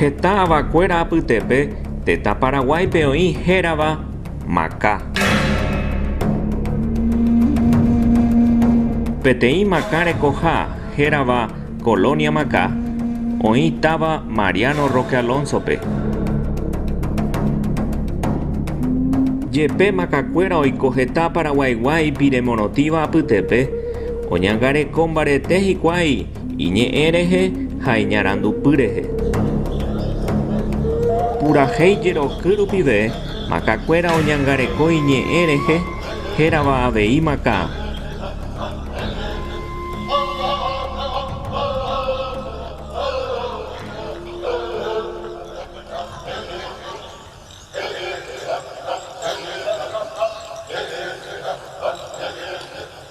Heta avakuéra apytépe tetã Paraguáipe oĩ hérava Maka. Peteĩ Maka rekoha hérava Colonia Maka oĩ táva Mariano Roque Alonso-pe. Jepe Makakuéra oiko heta Paraguaigua ipiremorotíva apytépe, oñangareko mbarete hikuái Iñe'ẽ rehe ha iñarandupy rehe. Purahéi jeroky rupive makakuéra oñangareko iñe'ẽ rehe hérava avei makã.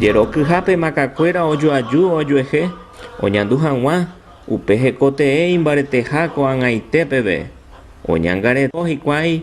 Jerokyhápe makakuéra ojoaju ojuehe oñandu hag̃ua upe hekotee imbareteha ko'ag̃aite peve, oñangareko hikuái